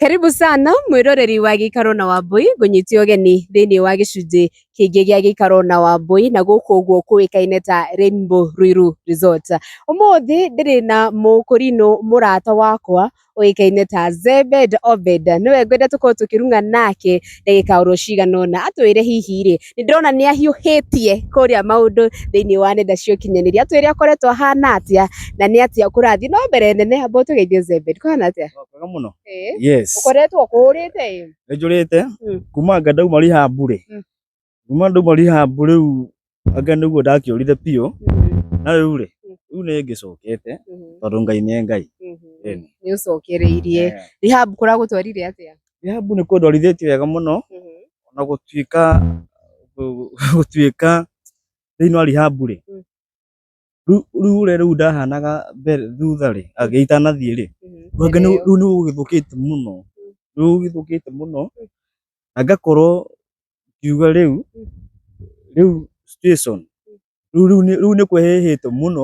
Karibu sana mwĩroreri wa gĩikaro na Wambũi ngũnyitie ũgeni thĩinĩ wa gĩcunjĩ kĩngĩ gĩa gĩikaro na Wambũi na gũkũ ũguo kũĩkaine ta Rainbow Ruiru Resort. Ũmũthĩ ndĩrĩ na mũkũrinũ mũrata wakwa ũĩkaine ta Zebed Obed, nĩwe ngwenda tũkorwo tũkĩrung'a nake ndagĩka oro cigana ũna atwĩre hihi rĩ nĩ ndĩrona nĩ ahiũhĩtie kũrĩa maũndũ thĩinĩ wa nenda cia ũkinyanĩria atwĩre akoretwo ahana atĩa na nĩ atĩa kũrathiĩ no mbere nene ambao tũgeithie Zebed kũhana atĩa Kwega mũno. Eh, Yes. ũkoretwo kũhũrĩte ĩ Nĩ njũrĩte Mm. kuma anga ndauma riha mbure. Mm. Kuma ndauma riha mbure rĩu anga nĩguo ndakĩũrire biũ na rĩu rĩ Mm. rĩu nĩ ngĩcokete tondũ Ngai nĩ Ngai. Ĩni. nĩ ũcokereirie Eh, rehab kũragũtwarire atĩa Rehabu nĩ kũndũ arithĩtio wega mũno Mhm. ona gũtuĩka gũtuĩka thĩinĩ wa Rehabu rĩ Mm. rĩu- rĩu ũrĩa rĩu ndahanaga mbere thutha rĩ agĩ- itanathiĩ rĩ Mhm. Rwanga nĩ- Ĩrĩo. rĩu nĩ gũgĩthũkĩte mũno rĩu gũgĩthũkĩte mũno na ngakorwo ngiuga rĩu rĩu situation rĩu rĩu nĩ- rĩu nĩ kwehĩhĩte mũno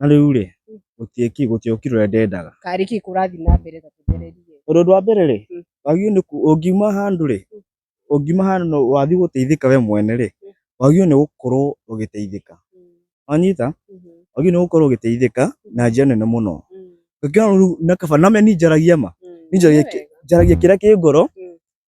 Na rĩu rĩ, Mm. gũtirĩ ki- gũtirĩ ũkiri ũrĩa ndendaga. karĩ kĩ kũrathiĩ na mbere ta tũgererie Ũndũ ũndũ wa mbere rĩ, Mm. wagĩrĩirwo nĩ ku- ũngiuma handũ rĩ, Mm. ũngiuma handũ na wathiĩ gũteithĩka we mwene rĩ, Mm. wagĩrĩirwo nĩ gũkorwo ũgĩteithĩka. Mm, Wanyita? mhm, Wagĩrĩirwo nĩ gũkorwo ũgĩteithĩka na njĩra nene mũno. mm, Ũngĩona rĩu na kaba na me ninjaragia ma, mm. ninjaragia Nĩ kĩ- wega. njaragia kĩrĩa kĩ ngoro, Mm.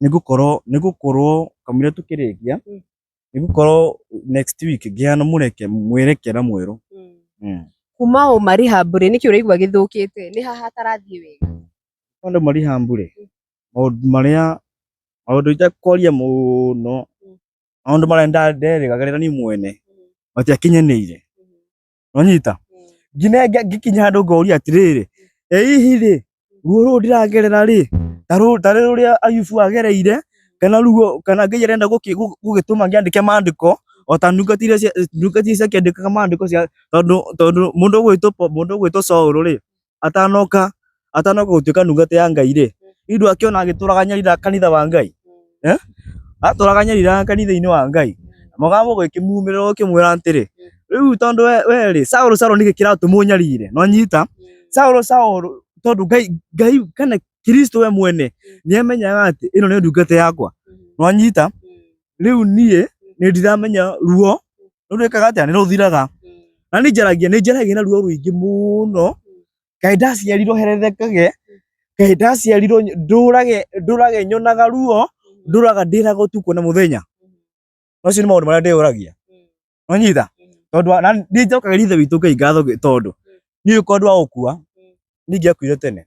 nigukorwo nigukorwo kamire tukirikia Mm. nigukorwo next week ngiana mureke mwerekera mweru Mm. mm. kuma o marĩ hambũrĩ nĩkĩ ũraigua gĩthũkĩte nĩ haha hatarathiĩ wega Maũndũ marĩ hambure maũndũ marĩa maũndũ itakwaria mũno maũndũ marĩa nda- nderĩgagĩrĩra niĩ mwene matiakinyanĩire uranyita ngine ngikinya handu ngoria atiriri eihi ri ruo ruru ndiragerera ri taru tari ruria ayubu agereire kana ruo kana ngai arenda gugituma ngiandike mandiko o ta ndungati iria ndungati iria ciakĩandĩkaga mandĩko cia tondũ tondũ mũndũ ũgwĩtwo mũndũ ũgwĩtwo Saũlũ rĩ atanoka atanoka gutuika ndungata ya ngai ri indu akiona agituraga nyarira kanitha wa ngai eh aturaga nyarira kanitha-ini wa ngai mugambo gwikimumirira ukimwira atiri riu tondu we we ri saulu saulu niki kiratumwo nyarire no nyita saulu saulu tondu ngai ngai kana kristo we mwene niemenyaga ati ino ni ndungata yakwa no nyita riu nie ni ndiramenya ruo no rwikaga atia ni ruthiraga na ni njaragia ni njaragia na ruo ruingi muno kaĩ ndaciarirwo herethekage kaĩ ndaciarirwo ndũrage ndũrage nyonaga ruo ndũraga ndĩraga ũtukũ na mũthenya macio nĩ maũndũ marĩa ndĩyũragia wanyita tondũ wa- na nĩ njokagĩria ithe witũ ngai ngatho gĩ- tondũ niĩ kwa andũ a gũkua ningĩ akuire tene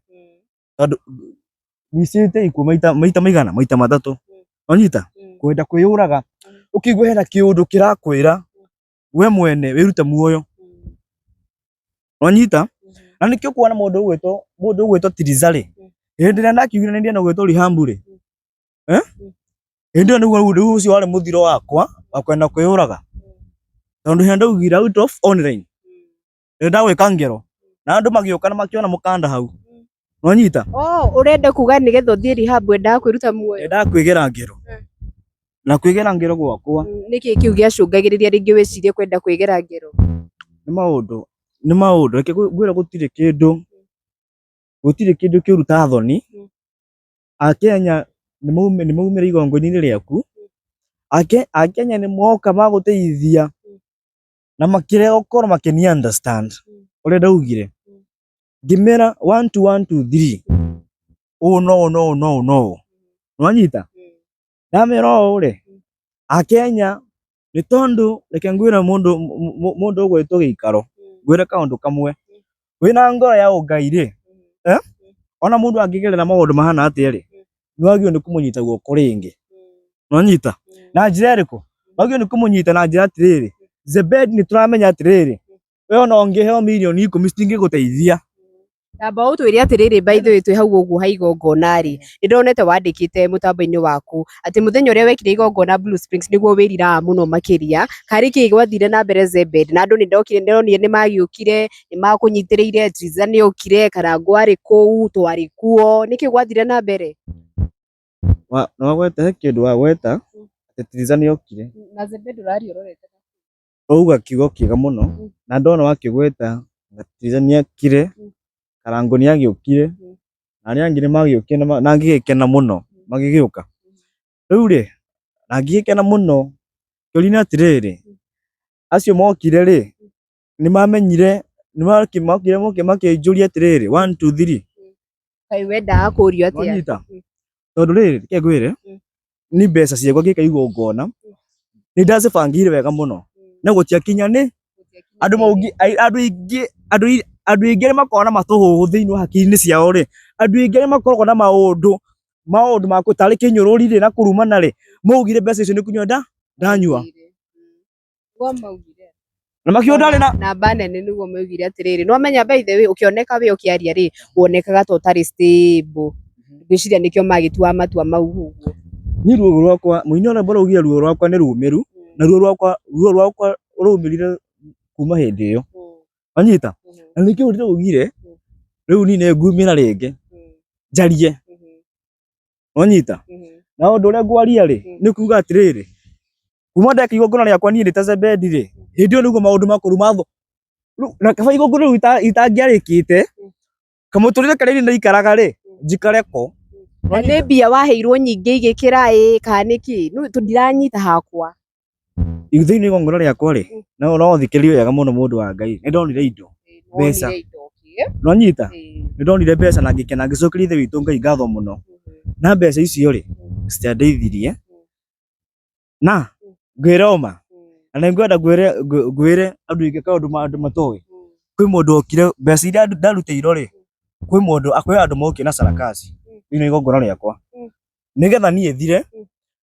tondũ wicite ikuo maita maita maigana maita matatũ wanyita kwenda kwĩyũraga ũkĩigua hena kĩũndũ kĩrakwĩra we mwene wĩrute muoyo wanyita na nĩkĩo kuona mũndũ ũgwĩtwo mũndũ ũgwĩtwo tiriza rĩ hĩndĩ ĩrĩa ndakiugire nĩ ndienda gwĩtwo rihambu rĩ eh? hĩndĩ ĩyo nĩguo rĩu ũcio warĩ mũthiro wakwa wa kwenda kwĩyũraga tondũ hĩndĩ ndaugire out of online Nĩ ndagwĩka ngero. Na andũ magĩũka na makĩona mũkanda hau. Nonyita? Oh, ũrenda kuga nĩgetha ũthiĩ rehab wendaga kwĩruta muoyo? Ndendaga kwĩgera ngero. Mm. Na kwĩgera ngero gwakwa. Mm, nĩkĩ kĩu gĩacũngagĩrĩria rĩngĩ wĩcirie kwenda kwĩgera ngero? Nĩ maũndũ, nĩ maũndũ. Reke ngwĩre gũtirĩ kĩndũ, mm. gũtirĩ kĩndũ kĩũru ta thoni. Mm. Akenya nĩ maumĩra igongo-inĩ rĩaku. Akenya nĩ moka magũteithia na makĩrega gũkorwo makĩni understand ũrĩa ndaugire ngĩmera one two one two three ũũ no ũũ no ũũ no ũũ no ũũ nĩwanyita ndamera ũũ rĩ akenya nĩ tondũ reke ngwĩre mũndũ mũ- mũ- mũndũ ũgwĩtwo gĩikaro ngwĩre kaũndũ kamwe wĩna ngoro ya ũngai rĩ eh? ona mũndũ angĩgerera maũndũ mahana atĩa rĩ nĩwagĩrĩirwo nĩ kũmũnyita guoko rĩngĩ nonyita na njĩra ĩrĩkũ wagĩrĩirwo nĩ kũmũnyita na njĩra atĩrĩrĩ Zebedi nĩ tũramenya atĩrĩrĩ we ona ũngĩheo mirioni ikũmi citingĩgũteithia Tamba ũtwĩre atĩrĩrĩ by the way twĩ hau ũguo ha igongona-rĩ, nĩndonete wandĩkĩte mũtambo-inĩ waku atĩ mũthenya ũrĩa wekire igongona Blue Springs nĩguo wĩriraga mũno makĩria. Harĩ kĩĩ gwathire na mbere Zebed? Na andũ nĩ ndokire ndonire nĩ magĩũkire, nĩ makũnyitĩrĩire, Tiriza nĩ okire, Karangũ arĩ kũu, twarĩ kuo. Nĩkĩ gwathire na mbere? Wa- nĩ wagweta he kĩndũ wagweta atĩ tiriza nĩ okire Na Zebed ũraria ũrorete. wauga kiugo kĩega mũno Mm. na ndona wakĩgweta ngatiga nĩakire Mm. karango nĩagĩũkire Mm. na arĩa angĩ nĩmagĩũkire na ma- na ngĩgĩkena mũno magĩgĩũka rĩu rĩ na ngĩgĩkena mũno kĩũria-inĩ atĩrĩrĩ acio mokire rĩ nĩmamenyire nĩmakĩmokire mokire makĩnjũria atĩrĩrĩ one two three Kaĩ wendaga kũũrio atĩa? Wanyita. Tondũ rĩrĩ, reke ngwĩre, Mm. ni mbeca ciakwa ngĩka igongona, nĩ ndacibangĩire wega mũno, na gũtiakinya nĩ andũ maũngi, ai- andũ aingĩ, andũ ai- andũ aingĩ nĩ makoragwo na matũhũhũ thĩinĩ wa hakiri-inĩ ciao rĩ, andũ aingĩ nĩ makoragwo na maũndũ, maũndũ ma kũ- tarĩ kĩnyũrũri rĩ, na kũrumana rĩ, maugire mbeca icio nĩ kũnyua nda, ndanyua. Nĩguo maugire. na makiuga ndarĩ na namba nene nĩguo maugire atĩrĩrĩ nĩ wamenya by the way ũkĩoneka wĩ ũkĩaria rĩ wonekaga ta ũtarĩ stable ngwĩciria nĩkĩo magĩtuaga matua mau ũguo niĩ ruo rwakwa mũini ona mbara ugia ruo rwakwa nĩ rũmĩru na ruo rwakwa ruo rwakwa rũmĩrire kuma hĩndĩ ĩyo wanyita na nĩkĩo ndĩraugire rĩu nine ngumĩra rĩngĩ njarie Onyita. Mhm. Na ũndũ ũrĩa ngwaria rĩ, Mm. nĩ kuuga atĩrĩrĩ, kuma ndeka igongona rĩakwa niĩ ndĩta Zebedi rĩ, hĩndĩ ĩyo nĩguo maũndũ makũrũ matho. Rĩu na kaba igongona rĩu ita- itangĩarĩkĩte, kamũtũrĩre karĩa niĩ ndaikaraga rĩ, njikare ko. Na nĩ mbia waheirwo nyingĩ igĩkĩra ĩ kana nĩkĩ? Nũ- tũ- Ndiranyita hakwa. Ithuĩ-inĩ igongona rĩakwa rĩ, na ũrothikĩrĩria wega mũno mũndũ wa Ngai, nĩ ndonire indo, mbeca. Nĩwanyita? Nĩ ndonire mbeca na ngĩkena ngĩcokeria Ithe witũ Ngai ngatho mũno. Na mbeca icio rĩ, citiandeithirie, na ngwĩre ũma, na nĩ ngwenda ngwĩre ngwĩre andũ aingĩ kaũndũ andũ matoĩ, kwĩ mũndũ wokire mbeca iria ndarutĩirwo rĩ, kwĩ mũndũ kwĩ andũ mokire na sarakasi thĩiniĩ wa igongona rĩakwa, nĩgetha niĩ thire,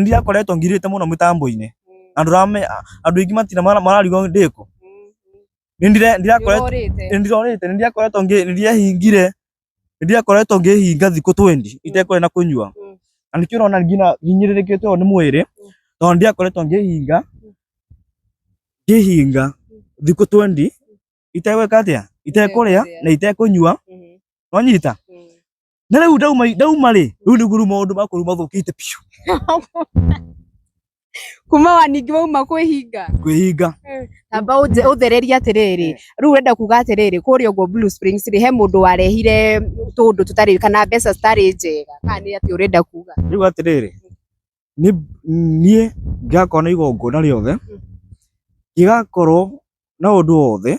ndirakoretwo ngirĩte mũno mĩtambo-inĩ na ndũramenya andũ aingĩ matina mararigo ndĩkũ nĩndĩrorĩte nĩndirakoretwo ndirehingire nĩndirakoretwo ngĩhinga thikũ twendi itekũrĩa na kũnyua na nĩkĩo ũrona nginya hinyĩrĩrĩkĩte ũũ nĩ mwĩrĩ tondũ nĩndirakoretwo ngĩhinga ngĩhinga thikũ twendi itegwĩka atĩa itekũrĩa na itekũnyua wanyita na rä u ndauma ndauma rä rä u nä guo rä u maå makwa rä u mathå kä te biå kuma wa ningĩ wauma kwĩhinga kwä hinga amba ũnje- ũthererie atĩrĩrĩ Eh. rĩu ũrenda kuga atĩrĩrĩ kũrĩa ũguo Blue Springs rĩ he mũndũ warehire tũndũ tũtarĩ kana mbeca citarĩ njega kana nĩ atĩ ũrenda kuga rä u atä rä rä niä ngakona igongona rä othe igakorwo na å ndå wothe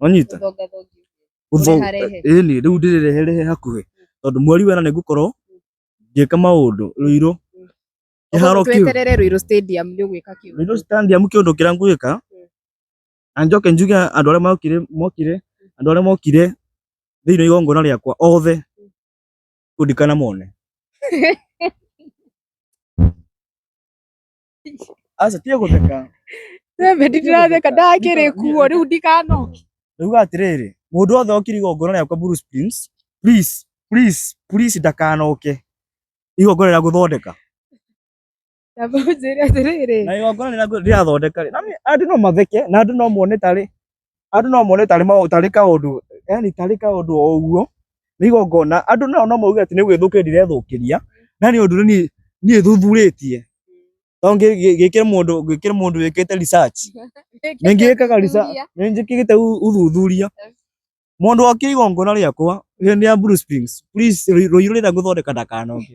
wanyita Thonga thongi. Gũtho- Ũreharehe. ĩĩ nĩ rĩu ndĩrĩreherehe hakuhĩ tondũ mweri wena nĩ ngũkorwo ngĩka maũndũ rũirũ kĩharo kĩu Tweterere Ruiru Stadium nĩ ũgwĩka kĩu. rũirũ standiamu kĩũndũ kĩrĩa ngwĩka na njoke njuge andũ arĩa mokire mokire andũ arĩa mokire thĩinĩ wa igongona rĩakwa othe kũndikana mone Aca tiga gũtheka. We Beti ndĩratheka ndakĩrĩ kuo rĩu ndikanoke. Ndauga atĩrĩrĩ, mũndũ wothe okire igongona rĩakwa Bruce Prince, please, please, please ndakanoke. Igongona rĩa gũthondeka. Ndamba ũnjĩre atĩrĩrĩ. Na igongona rĩa gũ- rĩrathondeka rĩ, na nĩ- andũ no matheke na andũ no mone tarĩ andũ no mone tarĩ mau- tarĩ kaũndũ yani tarĩ kaũndũ o ũguo nĩ igongona andũ nao no mauge atĩ nĩ gwĩthũkĩria ndirethũkĩria na nĩ ũndũ niĩ niĩ thuthurĩtie to ngĩ- ngĩ- ngĩkĩre mũndũ ngĩkĩre mũndũ wĩkĩte research nĩ ngĩkaga research nĩ njĩkĩte u- uthuthuria mũndũ okire igongona rĩakwa hĩndĩ ya Bruce Springs please rũi- rũirũ rĩrĩa ngũthondeka ndakanoke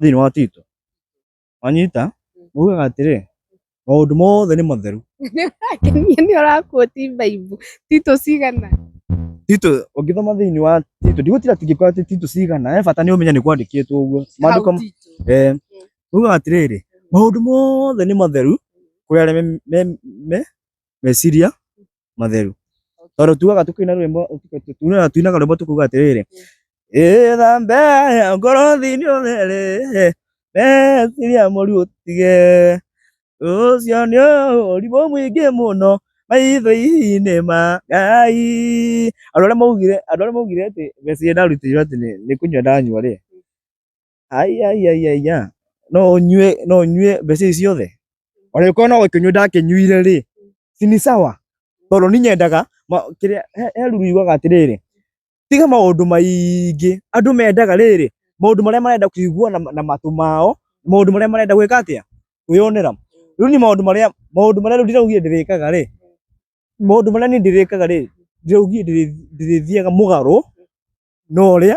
thĩinĩ wa tito wanyita ugaga atĩrĩ maũndũ mothe nĩ matheru Kenia nĩ ũrakuoti baibu tito cigana tito ũngĩthoma thĩinĩ wa tito ndigũtira tingĩkorwo atĩ tito cigana he bata nĩ ũmenye nĩ kwandĩkĩtwo ũguo maandĩko Hau Tito. eh, ugaga atĩrĩrĩ maũndũ mothe nĩ matheru kũrĩ arĩa me- me- me- meciria matheru tondå tugaga tå kä na rwä mbo tuinaga rwä mbo tå kuga atä rä rä ĩthambe ngorothi-inĩ ũtherĩ meciria mũru ũtige ũcio nĩ ũrimũ mũingĩ mũno maitho-inĩ ma ngai andũ arĩa maugire andũ arĩa maugire atĩ meciri ndarutirwo atĩ nĩ kũnyua ndanyua rĩ aiaiaiaia no nyue no nyue mbeca ici ciothe ona gĩkorwo no gũkĩnyua ndakĩnyuire rĩ si ni sawa tondũ ni nyendaga ma- kĩrĩa he- he ruru yugaga atĩrĩrĩ tiga maũndũ maingĩ andũ mendaga rĩrĩ maũndũ marĩa marenda kũigua na, na matũ mao maũndũ marĩa marenda gwĩka atĩa kwĩyonera rĩu ni maũndũ marĩa maũndũ marĩa rĩu ndĩraugire ndĩrĩkaga rĩ maũndũ marĩa niĩ ndĩrĩkaga rĩ ndĩraugire ndĩrĩ- ndĩrĩthiaga mũgarũ na ũrĩa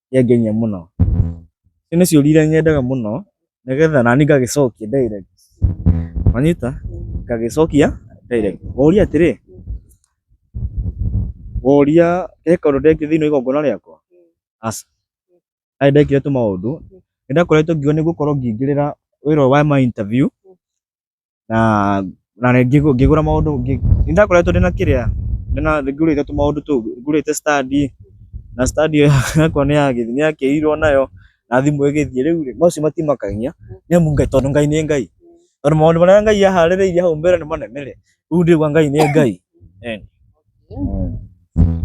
yangenia mũno. Icio nĩ ciũria iria nyendaga mũno nĩgetha naniĩ ngagĩcokia direct. Wanyita? Ngagĩcokia direct. Ngoria atĩrĩ, ngoria he kaũndũ ndekire thĩinĩ wa igongona rĩakwa? Aca. Ndarĩ ndekire tũmaũndũ. Nĩndakoretwo ngiuga nĩngũkorwo ngĩingĩrĩra wĩra ũyũ wa ma interview na na nĩ ngĩgũ- ngĩgũra maũndũ ngĩ- nĩ ndakoretwo ndĩna kĩrĩa ndĩna ngũrĩte tũmaũndũ tũu ngũrĩte stand na stand ĩyo yakwa nĩ yagĩ- nĩ yakĩirwo nayo na thimũ ĩgĩthiĩ rĩu rĩ macio matimakania nĩ amu Ngai tondũ Ngai nĩ Ngai tondũ maũndũ marĩa Ngai aharĩrĩirie hau mbere nĩ manene rĩ rĩu ndĩrĩgua Ngai nĩ Ngai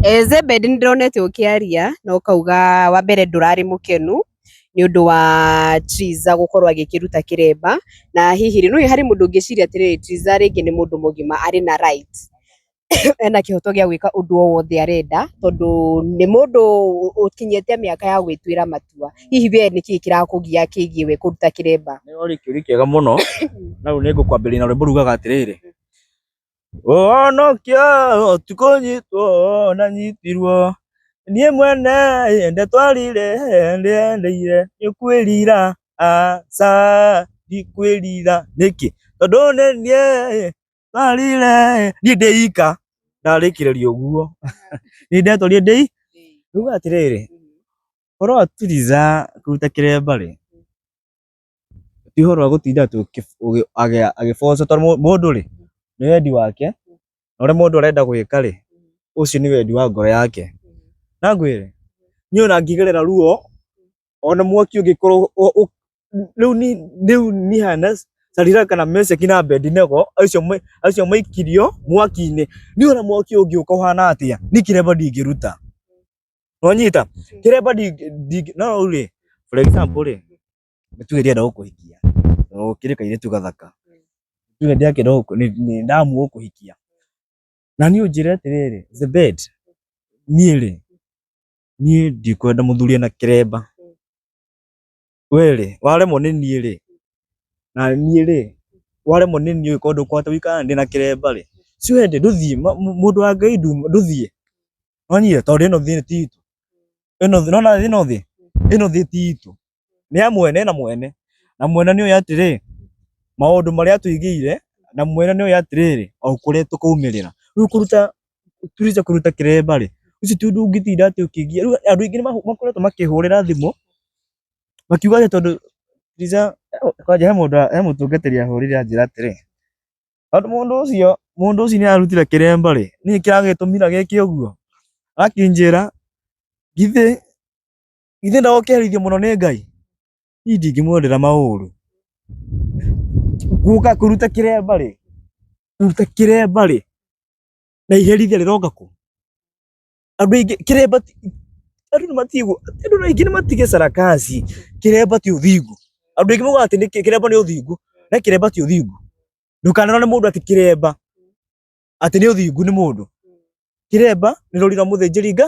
Eh, Zebed nĩ ndĩronete ũkĩaria na ũkauga wa mbere ndũrarĩ mũkenu nĩ ũndũ wa Triza gũkorwo agĩkĩruta kĩremba, na hihi rĩ, nĩ ũĩ harĩ mũndũ ũngĩciria atĩrĩrĩ Triza rĩngĩ nĩ mũndũ mũgima arĩ na right ena kĩhoto gĩa gwĩka ũndũ o wothe arenda, tondũ nĩ mũndũ ũkinyĩte mĩaka ya gwĩtuĩra matua. Hihi we nĩ kĩĩ kĩrakũgia kĩgiĩ we kũruta kĩremba? Nĩ ũrarĩkia ũrĩa kĩega mũno, na rĩu nĩ ngũkwambĩrĩria na rwĩmbo rugaga atĩrĩrĩ, ũhonokio ũtukũ nyitwo na nyitirwo niĩ mwene ende twarire ndĩendeire nĩkwĩrira aca ndikwĩrira nĩkĩ tondũ nĩ niĩ twarire niĩ ndĩika ndarĩkĩrĩria ũguo nĩ ndetwarire ndĩ rĩu atĩrĩrĩ ũhoro wa Tuliza kũruta kĩremba rĩ ti ũhoro wa gũtinda agĩboco tondũ mũndũ rĩ nĩ wendi wake na ũrĩa mũndũ arenda gwĩka rĩ ũcio nĩ wendi wa ngoro yake. Na ngwĩre niĩ ona ngĩgerera ruo ona mwaki ũngĩkorwo rĩu niĩ hana Shadiraka na Meshaki na Abedinego acio maikirio mwaki-inĩ, niĩ ona mwaki ũngĩũka ũhana atĩa niĩ kĩremba ndingĩruta. Nonyita. Kire pa di di no ule. For example le. Tuge dia ndako kuhikia. No kire kaire tu gathaka. Tuge dia ke ndako ni ni ndamu go kuhikia. Na ni ujire atiriri, the bed. Niĩ rĩ, niĩ ndikwenda mũthuri ena kĩremba. we rĩ waremwo nĩ niĩ rĩ na niĩ rĩ waremwo nĩ niĩ ũgĩkorwo ndũkwahota gũikara ndĩ na kĩremba rĩ si wende ndũthiĩ ma- mũ- mũndũ wa ngai nduma ndũthiĩ nonyie tondũ ĩno thĩ ti itũ ĩno thĩ nona ĩno thĩ ĩno thĩ ti itũ nĩ ya mwene na mwene na mwene nĩ ũyũ atĩrĩ maũndũ marĩa atũigĩire na mwene nĩ ũyũ atĩrĩrĩ o kũrĩa tũkaumĩrĩra rĩu kũruta tũrĩte kũruta kĩremba rĩ, ũcio ti ũndũ ũngĩtinda atĩ ũkĩgiya. Rĩu andũ aingĩ nĩ makoretwo makĩhũrĩra thimũ makiuga atĩ tondũ Fuliza, kwanja he mũndũ, he mũtungatĩri ahũrĩire anjĩra atĩrĩ, tondũ mũndũ ũcio, mũndũ ũcio nĩ ararutire kĩremba rĩ, nĩkĩĩ kĩragĩtũmire gĩke ũguo? Akĩnjĩra githĩ, githĩ ndagũkĩherithio mũno nĩ Ngai? Niĩ ndingĩmwendera maũru. Gũka kũruta kĩremba rĩ, kũruta kĩremba rĩ, na iherithia rĩroka kũ andũ aingĩ kĩremba ti- andũ nĩ matigwo andũ nĩ aingĩ nĩ matige sarakasi kĩremba ti ũthingu andũ aingĩ moigaga atĩ nĩ kĩ- kĩremba nĩ ũthingu na kĩremba ti ũthingu ndũkanarwo nĩ mũndũ atĩ kĩremba atĩ nĩ ũthingu nĩ mũndũ kĩremba nĩ rũri rwa mũthĩnjĩri nga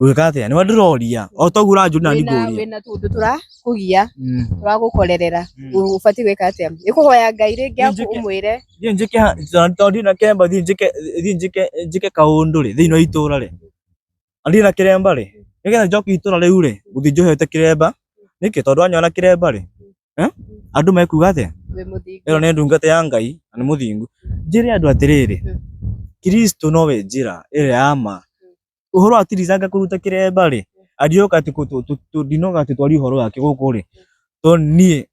Ũgĩka atĩa? Nĩwe ndĩroria. O toguo ũranjũria na niĩ ngũria. Wĩna tũndũ tũrakũgia, mm. tũragũkorerera. Mm. Ũbatiĩ gwĩka atĩa? Nĩ kũhoya Ngai rĩngĩ aku ũmwĩre. Thiĩ njĩke tondũ ndirĩ na kĩremba thiĩ njĩke thiĩ njĩke njĩke kaũndũ rĩ thĩinĩ wa itũũra rĩ. Na ndirĩ na kĩremba rĩ. Nĩgetha njoke itũũra rĩu rĩ, gũthiĩ njohete kĩremba. Nĩkĩ? Tondũ wanyona na kĩremba rĩ, eh? andũ mekuga atĩa? Ĩno nĩ ndungata ya Ngai na nĩ mũthingu. Njĩre andũ atĩrĩrĩ, mm. Kristo nowe njĩra ĩrĩa ya ma uhoro wa tirizanga kuruta kiremba ri arioka ati ndinoga ati twari uhoro wake guku ri to nie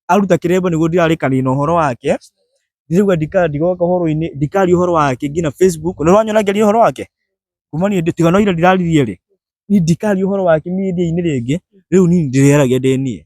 aruta kiremba niguo ndirarikani na uhoro wake ndirigwa ndikandi goka uhoro-ini ndikari uhoro wake ngina facebook ni rwanyona ngeria uhoro wake kuma ni tiga no ira ndiraririe ri ni ndikari uhoro wake media-ini ringi riu ni ndireragia ndi nie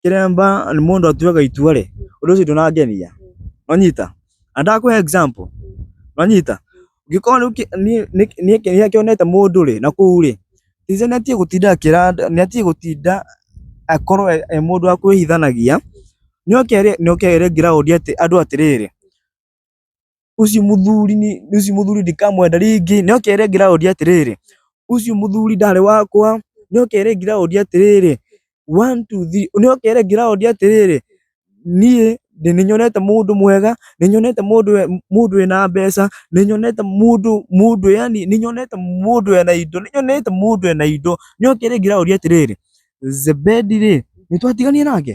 kĩremba nĩ mũndũ atuaga itua rĩ ũndũ ũcio ndũnangenia wanyita na ndakũhe example wanyita ngĩkorwo rĩu kĩ- niĩ- nĩ- niĩ kĩ- rĩrĩa kĩonete mũndũ rĩ na kũu rĩ tize nĩ atige gũtinda akĩra andũ- nĩ atige gũtinda akorwo e e mũndũ wa kwĩhithanagia nĩ oke rĩ nĩ oke ere ground atĩ andũ atĩrĩrĩ Ũcio mũthuri nĩ, ũcio mũthuri ndikamwenda rĩngĩ. Nĩ oke rĩngĩ raũndi atĩrĩrĩ, ũcio mũthuri ndarĩ wakwa. Nĩ oke rĩngĩ raũndi atĩrĩrĩ, one, two, three. Nĩ oke rĩngĩ raũndi atĩrĩrĩ, niĩ ndĩ nĩ nyonete mũndũ mwega, nĩ nyonete mũndũ e, mũndũ wĩna mbeca, nĩ nyonete mũndũ, mũndũ yani nĩ nyonete mũndũ ena indo, nĩ nyonete mũndũ ena indo. Nĩ oke rĩngĩ raũndi atĩrĩrĩ, Zebedi rĩ, nĩ twatiganire nake?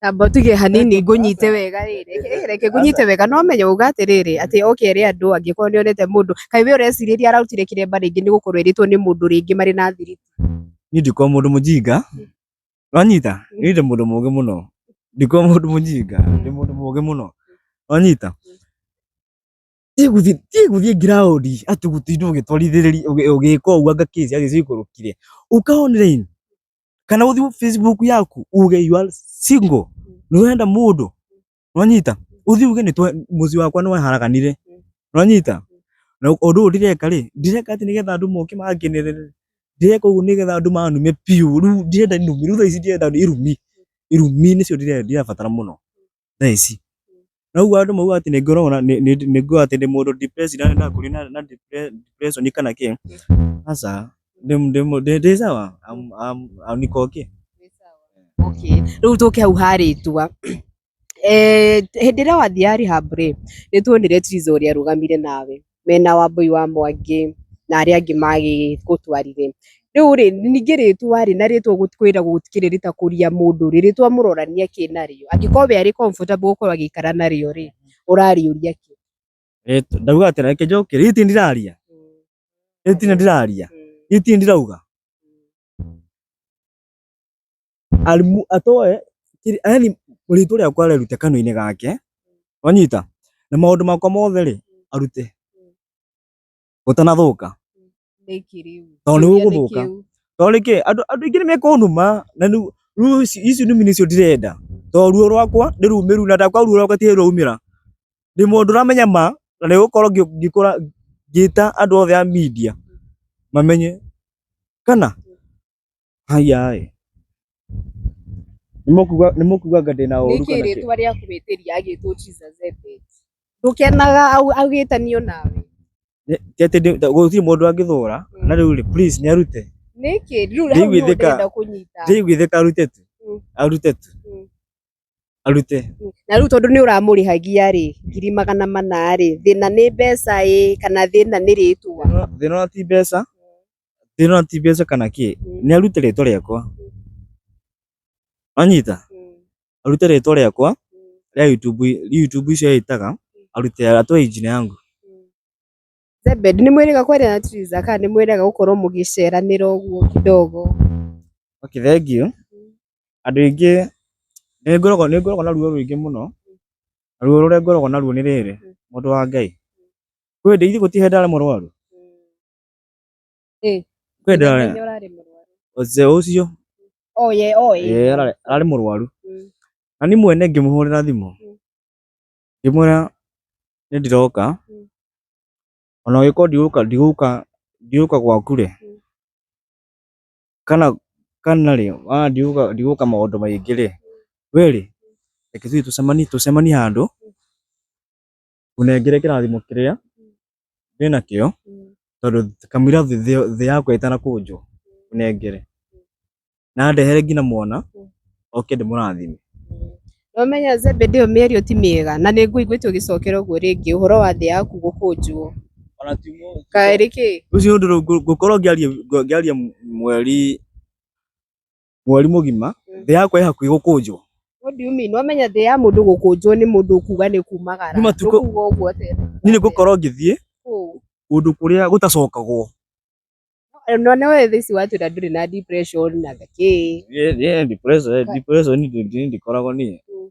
Tamba ũtige hanini ngũnyite wega rĩ, reke- eh, reke ngũnyite wega no menye uga atĩrĩrĩ atĩ oke ere andũ angĩkorwo nĩ onete mũndũ kaĩ we ũrecirĩria arautire kĩremba rĩngĩ nĩ gũkorwo erĩtwo nĩ mũndũ rĩngĩ marĩ na thiri niĩ ndikorwo mũndũ mũjinga wanyita niĩ ndĩ mũndũ mũgĩ mũno ndikorwo mũndũ mũjinga ndĩ mũndũ mũgĩ mũno wanyita tiĩ gũthiĩ tiĩ gũthiĩ ngiraũndi atĩ gũtindwo ũgĩtwarithĩrĩria ũgĩ- ũgĩka ũguo anga kĩci agĩcikũrũkire ũka online kana uthi Facebook yaku uge you are single ni wenda mundu uranyita uthi uge ni muzi wakwa ni waharaganire uranyita na undu uyu ndireka ri ndireka ati nigetha andu moke manginirire ndireka uguo nigetha andu manume piu riu ndirenda irumi riu thaa ici ndirenda irumi irumi nicio ndirabatara muno thaa ici na rĩu andũ mauga atĩ nĩ ngorona nĩ nĩ- nĩ nguga atĩ nĩ mũndũ depressed na na kũrĩ na na depre- depression kana kĩ aca ndĩ- ndĩ- ndĩ ndĩ sawa am- am- am- niko okay okay rä u tå ke hau harä tua hä ndä ä rä a wathiä rehab rä nä tuonire tiriza å rä a arå gamire nawe mena Wambũi wa Mwangĩ na arĩa angĩ magĩgũtwarire. Rĩu rĩ, ningĩ rĩtwa rĩ, na rĩtwa kwĩragwo gũtikĩrĩ rĩtakũria mũndũ rĩ, rĩtwa mũrorania kĩ narĩo? Angĩkorwo we arĩ comfortable gũkorwo agĩikara narĩo rĩ, ũrarĩũria kĩ? Rĩtwa- ndauga atĩrĩ reke njoke rĩu itirĩ ndĩraria rĩu itirĩ ndĩraria rĩu itirĩ ndĩrauga Alimu atoe kiri- yaani rĩtwa rĩakwa arĩrute kanua-inĩ gake wanyita na maũndũ makwa mothe rĩ arute gũtanathũka Nĩkĩ rĩu? Tondũ nĩ Kĩũria ũgũthũka. kĩu. tondũ rĩkĩ andũ andũ aingĩ nĩ mekũnuma na rĩu rĩu ici- ici numi nĩcio ndirenda tondũ ruo rwakwa nĩ rumĩru na ndakwa ruo rwakwa ti rwaumĩra ndĩ mũndũ ũramenya ma na nĩ gũkorwo ngĩ- ngĩkũra ngĩta andũ othe a media mamenye kana Haya ĩ. Nĩ mũkuga nĩ mũkuga anga ndĩna ũru nĩkĩ kana kĩ? rĩtwa rĩa kũhĩtĩria agĩtwo Jesus Ebet ndũkenaga au- agĩtanio nawe Nĩ- ti atĩ ndĩ- ta- gũtirĩ mũndũ angĩthũra na rĩu rĩ please nĩ arute nĩkĩ rĩu hau nĩwe Ndĩiguithĩka. ndĩrenda kũnyita ndĩiguithĩka arute tu Mm. arute tu Mm. arute na rĩu tondũ nĩ ũramũrĩhagia rĩ ngiri magana mana rĩ thĩna nĩ mbeca ĩ kana thĩna nĩ rĩtwa thĩna wa ti mbeca Ndĩrona ti mbeca kana kĩ, nĩ arute rĩtwa rĩakwa. Wanyita? Arute rĩtwa rĩakwa rĩa YouTube, YouTube icio yĩtaga, arute atoe injini yangu. Zebed, nĩ mwĩrĩga kwaria na Triza kana nĩ mwĩrĩga gũkorwo mũgĩceranĩra ũguo kidogo? Okay, thengiũ. Andũ aingĩ nĩ ngoragwo nĩ ngoragwo na ruo rũingĩ mũno, na ruo rũrĩa ngoragwo naruo nĩ rĩrĩ, mũndũ wa Ngai, kwĩ hĩndĩ ithe gũtirĩ hĩndĩ ndarĩ mũrwaru? Eh. Kwenda Nĩ ũrarĩ mũrwaru. Ozee ũcio Oh, ye, oh, ye. eh, ararĩ ararĩ mũrwaru Mm. na niĩ mwene ngĩmũhũrĩra thimũ Mm. ngĩmwĩra nĩ ndĩroka Mm. ona ũgĩkorwo ndigũka ndigũka ndigũka gwaku rĩ Mm. kana kana rĩ ona ndigũka ndigũka maũndũ maingĩ rĩ we rĩ reke tũthiĩ tũcemanie tũcemanie handũ ũnengere kĩrathimo kĩrĩa wĩ nakĩo tondũ kamũira thĩ- thĩ thĩ yakwa ĩtanakũnjwo ũnengere na ndehere nginya mwana oke ndĩmũrathime Nomenya Zebedeo mĩario ti mĩega na nĩ ngũiguĩte ũgĩcokera ũguo rĩngĩ ũhoro wa thĩ yaku gũkũnjwo. ona ti mũndũ Kaĩ rĩkĩ? ũcio nĩ ũndũ ngũ- ngũkorwo ngĩaria ngũ- ngĩaria mweri mweri mũgima Mm. thĩ yakwa ĩ hakuhĩ gũkũnjwo What do you mean? Wamenya thĩ ya mũndũ gũkũnjwo nĩ mũndũ kuga nĩ kumagara. Nĩ matukũ- Ndũkuga ũguo atĩ. niĩ nĩ gũkorwo ngĩthiĩ Kũũ. kũndũ kũrĩa gũtacokagwo No no wewe thisi watu na ndũrĩ na depression na thakĩ. Niĩ- niĩ depression- depression ndi- ndi- ndikoragwo niĩ Mm.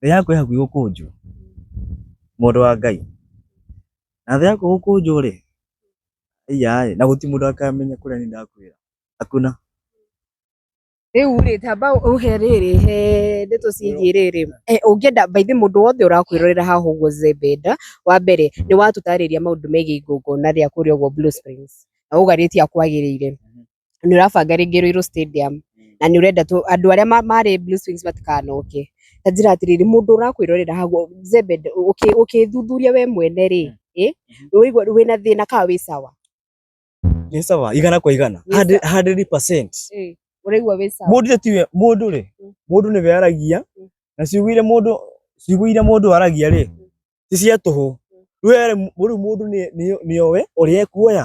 thĩ yaku ĩ hakuhĩ gũkũnjwo mũndũ wa ngai na thĩ yaku gũkũnjwo rĩ iyaĩ na gũti mũndũ akamenya kũrĩa niĩ ndakuĩra hakuna rĩu rĩ tamba ũhe rĩrĩ he ndeto ciĩgiĩ rĩrĩ Eh, ũngĩenda by the way, mũndũ wothe ũrakwĩrorera haha ũguo zebenda wa mbere nĩ watũtarĩria maũndũ megiĩ igongona rĩa kũrĩa ũguo blue springs na ũgarĩtie akwagĩrĩire nĩ ũrabanga rĩngĩ Ruiru Stadium na nĩ ũrenda tũ- andũ arĩa ma- marĩ Blue Swings matikanoke ta njĩra atĩrĩrĩ mũndũ ũrakwĩrorera hau zembe nde- ũkĩ- ũkĩthuthuria we mwene rĩ ĩ ũigua wĩna thĩna ka wĩ sawa nĩ sawa igana kwa igana Nĩ Hundred- hundred percent Ĩ, ũraigua wĩ sawa mũndũ tiwe mũndũ rĩ Mm. mũndũ nĩ weragia Mm. na ciugũire mũndũ ciugũire mũndũ aragia rĩ ti cia tũhũ rĩu rĩu mũndũ nĩ- nĩ- nĩowe ũrĩa ekuoya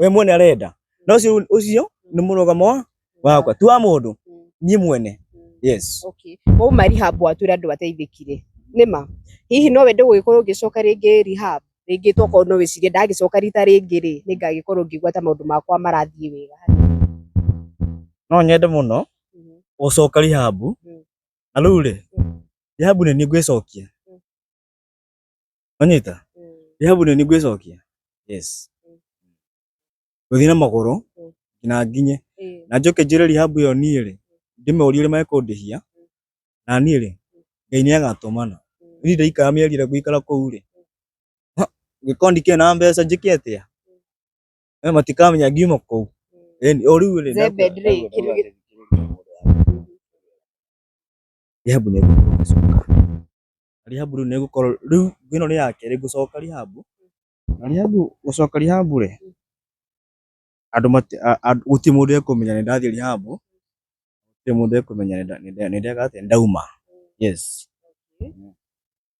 we mwene arenda na ucio ucio ni murugamo wakwa tu wa mundu nie mwene yes okay wau mari habu atwira andu bateithikire nima hihi no wende gugikorwo ngicoka ringi rehab ringi tokorwo no wicirie ndagicoka rita ringi ri ni ngagikorwo ngigwa ta maundu makwa marathie wega no nyende muno mhm. gucoka rehab mhm. na riu ri mhm. rehab ni ni ngwicokia onyita Mm. rĩhabu nĩ nĩngwĩcokia yes Mm. gũthiĩ na magũrũ Mm. nginya nginye Eh. na njoke njĩre rĩhabu ĩyo niĩ rĩ ndĩmũrie ũrĩa mekũndĩhia na niĩ rĩ ngai nĩ agatũmana Mm. niĩ ndaikara mĩeri ĩrĩa ngũikara kũu rĩ Ha, ngĩkorwo ndikĩrĩ na mbeca njĩke atĩa Eh, matikamenya ngiuma kũu Mm. Ĩni, o rĩu rĩ Zebed rĩ, kĩndũ gĩ- rĩhabu nĩ Rĩhabu rĩu nĩgũkorwo rĩu ĩno nĩ ya kerĩ gũcoka Rĩhabu. Na Rĩhabu gũcoka Rĩhabu rĩ, andũ mati a- a- gũtirĩ mũndũ ekũmenya nĩ ndathiĩ Rĩhabu, gũtirĩ mũndũ ekũmenya nĩ nda- nĩ nda- nĩ ndeka atĩa, nĩ ndauma. Yes.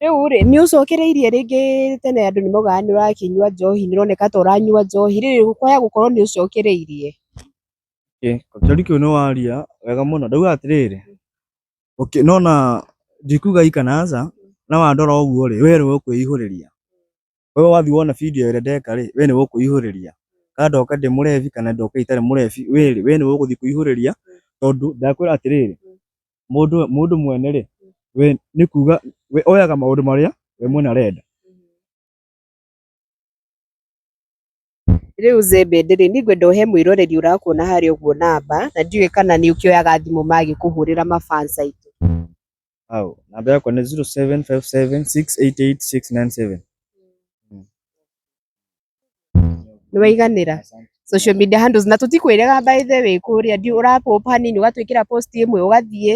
Rĩu rĩ, nĩ ũcokereirie rĩngĩ tene andũ nĩ maugaga nĩ ũrakĩnyua njohi, nĩ ũroneka ta ũranyua njohi, rĩrĩ ũkoya gũkorwo nĩ ũcokereirie. Ĩ, kĩũria kĩu nĩ waria wega mũno. Ndauga atĩrĩrĩ, okay no na ndikuga ikanaza na wandora ũguo rĩ we nĩwe ũkwĩihũrĩria wewe wathi wona video ĩrĩa ndeka rĩ we nĩwe ũkwĩihũrĩria kana ndoka ndĩ mũrebi kana ndoka itarĩ mũrebi we rĩ we nĩwe ũgũthiĩ kwĩihũrĩria tondũ ndakwĩra atĩrĩrĩ mũndũ mũndũ mwene rĩ we nĩ kuga we oyaga maũndũ marĩa we mwene arenda Rĩu Zĩmbĩ ndĩrĩ, niĩ ngwenda ũhe mwĩroreri ũrakuona harĩa ũguo namba, na ndiũĩ kana nĩ ũkĩoyaga thimũ magĩkũhũrĩra ma fans aitũ. Hau, namba yakwa nĩ 0757688697. Nĩ waiganĩra? Social media handles, na tũtikwĩrĩga by the way kũrĩa, ndiũ ũra pop hanini ũgatwĩkĩra post ĩmwe ũgathiĩ.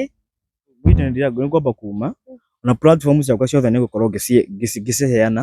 Gwitũ nĩ ndĩra- nĩ ngwamba kuma, na platform ciakwa ciothe nĩ ngũkorwo ngĩci- ngĩci- ngĩciheana,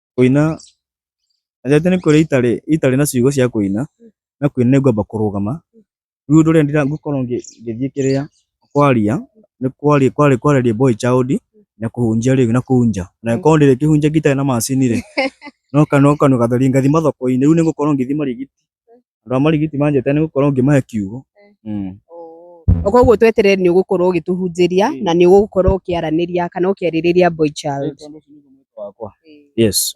Kũina, na rĩrĩa tene kũrĩa itarĩ, itarĩ na ciugo cia kũina, na kũina nĩ ngwamba kũrũgama, rĩu ũndũ ũrĩa ndĩra, ngũkorwo ngĩ, ngĩthiĩ kĩrĩa, kwaria, nĩ kwaria, kwarĩ kwarĩria boy child, na kũhunjia rĩu na kũu nja, na angĩkorwo ndĩrĩkĩhunjagia itarĩ na macini rĩ, no ka, no kanua gatheri, ngathi mathokoinĩ, rĩu nĩngũkorwo ngĩthi marigiti, andå a marigiti manjete nä gå korwo ngä mahe kiugo Mm. O koguo tweterere nĩ ũgũkorwo ũgĩtũhunjĩria Mm. na nĩ ũgũkorwo ũkĩaranĩria kana ũkĩarĩrĩria boy child. Tondũ ũcio nĩguo mwĩto wakwa. Yes.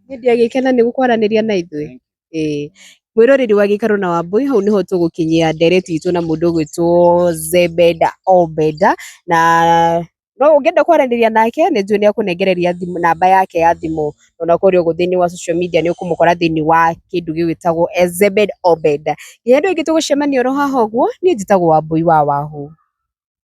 Niĩ ndiagĩkena nĩ gũkwaranĩria na ithuĩ. Ĩĩ. Mwĩroreri wa gĩikaro na Wambũi, hau nĩho tũgũkinyia ndereti itũ na mũndũ ũgwĩtwo Zebeda Obeda na no ũngĩenda kwaranĩria nake nĩ njũĩ nĩ ekũnengereria thimũ namba yake ya thimũ ona kũrĩa ũguo thĩinĩ wa social media nĩ ũkũmũkora thĩinĩ wa kĩndũ gĩgĩtagwo Ezebed Obed. Nginya hĩndĩ ĩngĩ tũgũcemania oro haha ũguo niĩ njĩtagwo Wambũi wa Wahũ.